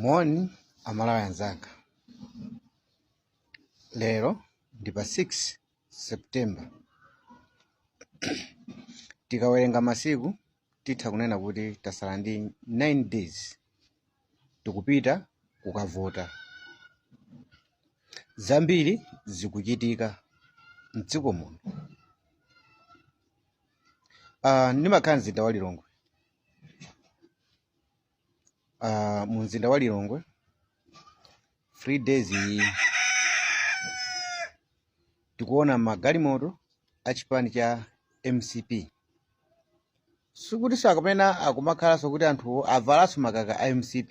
moni amalawi anzanga lero ndi pa 6 september tikawerenga masiku titha kunena kuti tasala ndi 9 days tikupita kukavota zambiri zikuchitika mdziko muno Ah, ndimakhala mzinda wa lilongwe Ah, mu mzinda wa lilongwe three days tikuona magalimoto a chipani cha mcp sikuti sakupena akumakhalanso kuti anthu avalanso makaka a mcp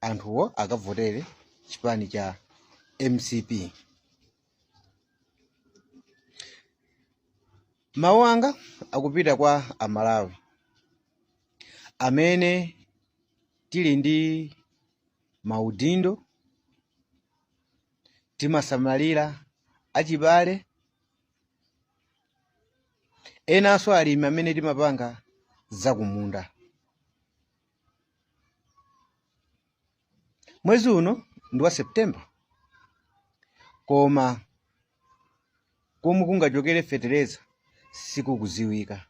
anthuwo akavotere chipani cha mcp mawu anga akupita kwa amalawi amene tili ndi maudindo timasamalira achibale enanso alimi amene timapanga zakumunda mwezi uno ndi wa september koma komwe kungachokere fetereza sikukuziwika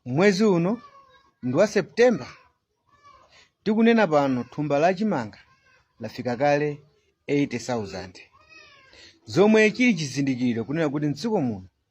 mwezi uno ndi wa september tikunena pano thumba la chimanga lafika kale 80,000 zomwe chili chizindikiro kunena kuti mdziko muno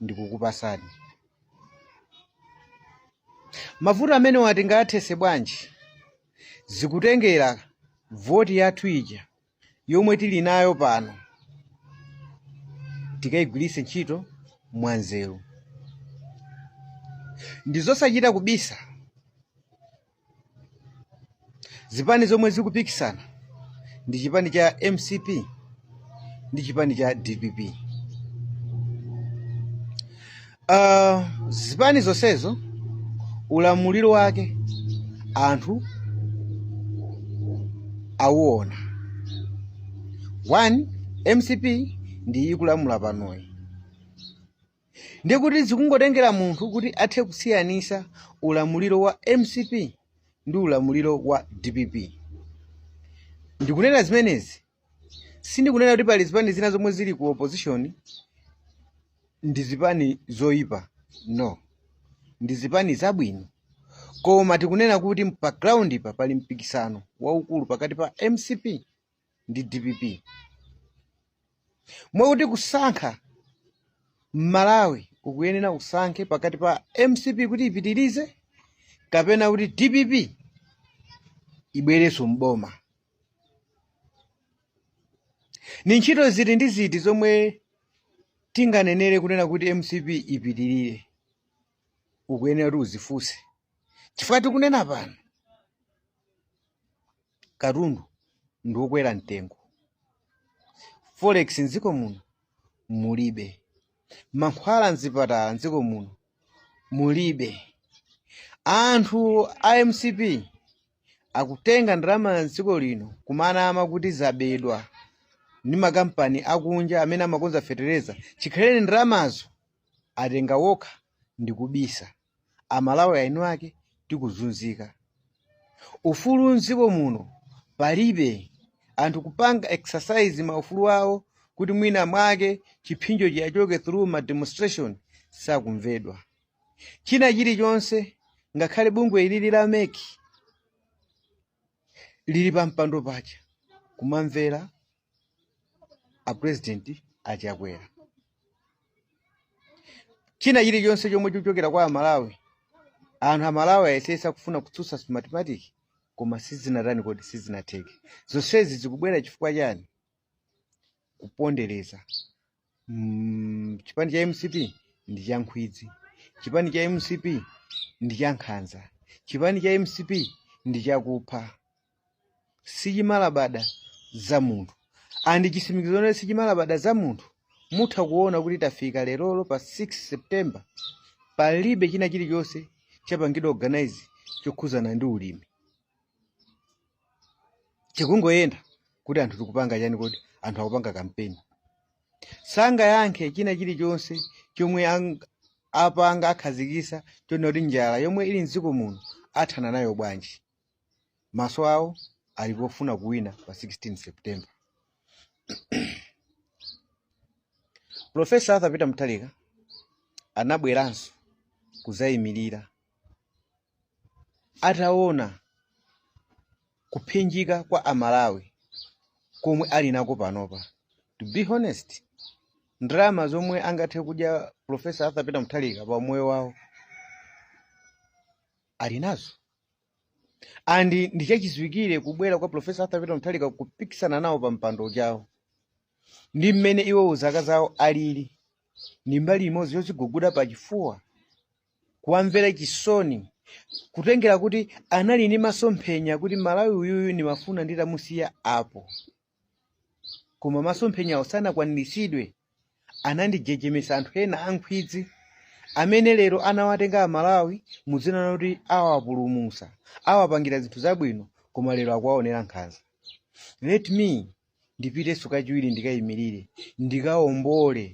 ndikukupasani mavuto amenewa tingathese bwanji zikutengera voti yathu ija yomwe tili nayo pano tikayigwiritse ntchito mwanzeru ndizosachita kubisa zipani zomwe zikupikisana ndi chipani cha mcp ndi chipani cha dpp uh, zipani zonsezo ulamuliro wake anthu awuona one mcp ndi ikulamula panoyi Ndiye kuti zikungotengera munthu kuti athe kusiyanisa ulamuliro wa mcp ndi ulamuliro wa dpp. Ndikunena zimenezi sindikunena kuti pali zipani zina zomwe zili ku opposition ndi zipani zoyipa no, ndi zipani zabwino koma tikunena kuti pa ground pa pali mpikisano waukulu pakati pa mcp ndi dpp mwakuti kusankha m'malawi ukuyenera usankhe pakati pa mcp kuti ipitirize kapena kuti dpp ibwerenso mboma ni ntchito ziti ndi ziti zomwe tinganenere kunena kuti mcp ipitirire ukuyenera kuti uzifunse chifukwa tikunena pano katundu ndi wokwera mtengo forex mdziko muno mulibe mankhwala mzipatala mdziko muno mulibe anthu a mcp akutenga ndalama mdziko lino kumanama kuti zabedwa ndi makampani akunja amene amakonza fetereza chikhaleni ndalamazo atenga wokha ndikubisa amalawi eni ake tikuzunzika ufulu mdziko muno palibe anthu kupanga exercise maufulu awo kuti mwina mwake chiphinjo chiyachoke through ma demonstration sakumvedwa china chilichonse ngakhale bungwe ili la mec lili pa mpando paja kumamvera a president a chakwera china chilichonse chomwe chochokera kwa amalawi anthu amalawi ayesesa kufuna kutsutsa smartmatic koma sizinatani kodi sizinatheke zonsezi zikubwera chifukwa chani kupondereza mm, chipani cha mcp ndi cha nkhwidzi chipani cha mcp ndi cha nkhanza chipani cha mcp ndi chakupha sichimalabada za munthu and chisimikizo chonena oti sichimalabada za munthu mutha kuona kuti tafika lerolo pa 6 september palibe china chilichonse chapangidwa organize chokhuzana ndi ulimi tikungoyenda kuti anthu tikupanga chani kodi anthu akupanga kampeni sangayankhe china chilichonse chomwe ang- apanga akhazikisa chonena kuti njala yomwe ili mdziko muno athana nayo bwanji maso awo ali pofuna kuwina pa 16 september profesa arthur peter mutharika anabweranso kuzayimirira ataona kuphinjika kwa amalawi komwe ali nako panopa to be honest ndalama zomwe angathe kudya profesa arthur peter mutharika pa umoyo wawo ali nazo and ndichachiziwikire kubwera kwa profesa arthur peter mutharika kupikisana nawo pa mpando ujawo ndi mmene iwowo zaka zawo alili ndi mbali imodzi yodziguguda pa chifuwa kuwamvera chisoni kutengera kuti anali ndi masomphenya kuti malawi uyuyu ndimafuna nditamusiya apo koma masomphenyawo sanakwaniritsidwe anandijejemetsa anthu ena ankhwidzi amene lero anawatenga amalawi mu dzina loti awapulumutsa awapangire zinthu zabwino koma lero akuwaonera nkhanza let me ndipitenso kachiwiri ndikayimirire ndikawombole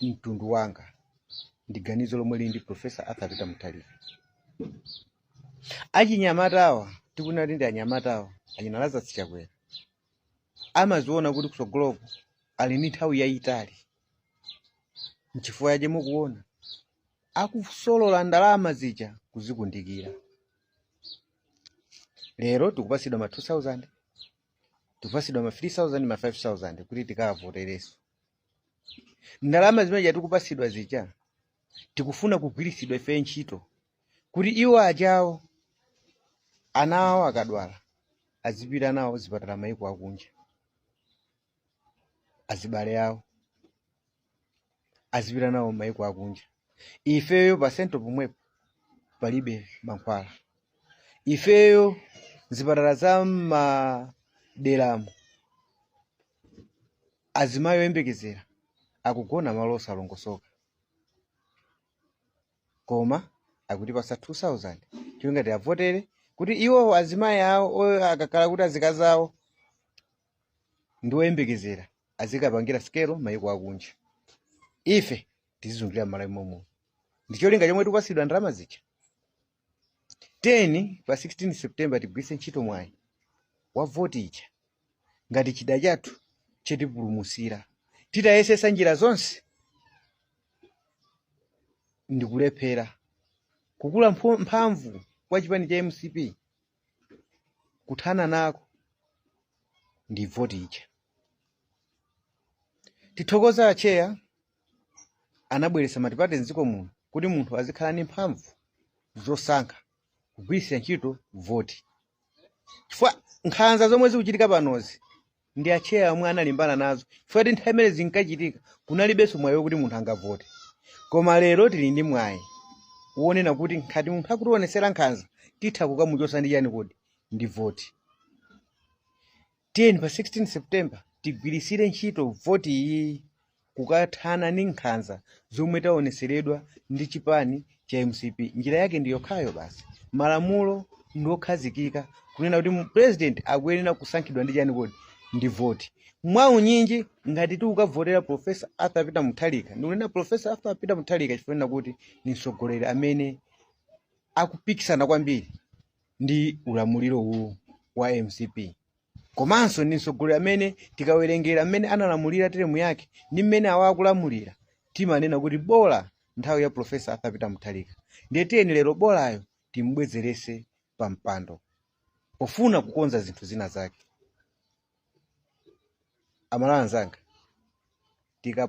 mtundu wanga ndi ganizo lomwe lili ndi profesa arthur peter mutharika achinyamatawa tikunena kuti ndi anyamatawa achina lazarus chakwera amaziona kuti kutsogoloko ali ndi nthawi yayitali nchifukwa yache mukuona akusolola ndalama zija kuzikundikira lero tikupasidwa ma 2000 tikupasidwa ma 3000 ma 5000 kuti tikavotereso ndalama zimene tikupatsidwa zija akufuna kugwiritsidwa ife ntchito kuti iwo ajawo ana awo akadwala azipita nawo zipatala za maiko akunja azibale awo azipita nawo maiko akunja ifeyo pa sento pomwepo palibe mankhwala ifeyo zipatala za m'maderamo Azimayi oyembekezera akugona malo osalongosoka koma akutipasa 2000 cholinga tiwavotere kuti iwowo azimayi awo o- akakhala kuti azikazi awo ndi oyembekezera azikapangira sikelo mayiko akunja ife tizizunzikira m'malawi momuno ndicholinga chomwe tikupasidwa ndalama zija nde pa 16 september tigwiritse ntchito mwayi wa voti ija ngati chida chathu chotipulumutsira titayesesa njira zonse ndikulephera kukula mpho- mphamvu kwa chipani cha mcp kuthana nako ndi voti ija tithokoza atcheya anabweretsa matipate m'dziko muno kuti munthu azikhala ndi mphamvu zosankha kugwiritsa ntchito voti chifukwa nkhanza zomwe zikuchitika panozi ndi atcheya omwe analimbana nazo chifukwa choti nthawi imene zinkachitika kunalibenso mwayi wokuti munthu angavote koma lero tili ndi mwayi wonena kuti ngati munthu akutionetsera nkhanza titha kukamuchotsa ndi chani kodi ndi voti Tiyeni pa 16 September tigwiritsire ntchito voti iyi kukathana ndi nkhanza zomwe taonetseredwa ndi chipani cha mcp. Njira yake ndi yokhayo basi. Malamulo ndi okhazikika kunena kuti president akuyenera kusankhidwa ndi chani kodi? Ndi voti. Mwaunyinji ngati titakavotera Professor Arthur Peter Mutharika, ndikunena Professor Arthur Peter Mutharika chifukwa chonena kuti ndi mtsogoleri amene akupikisana kwambiri ndi ulamuliro uwu wa mcp komanso ndi mtsogoleri amene tikawerengera mmene analamulira teremu yake ndi mmene awa akulamulira timanena kuti bola nthawi ya profesa arthur peter mutharika ndiye tiyeni lero bolayo timbwezerese pa mpando pofuna kukonza zinthu zina zake amalawi anzanga tika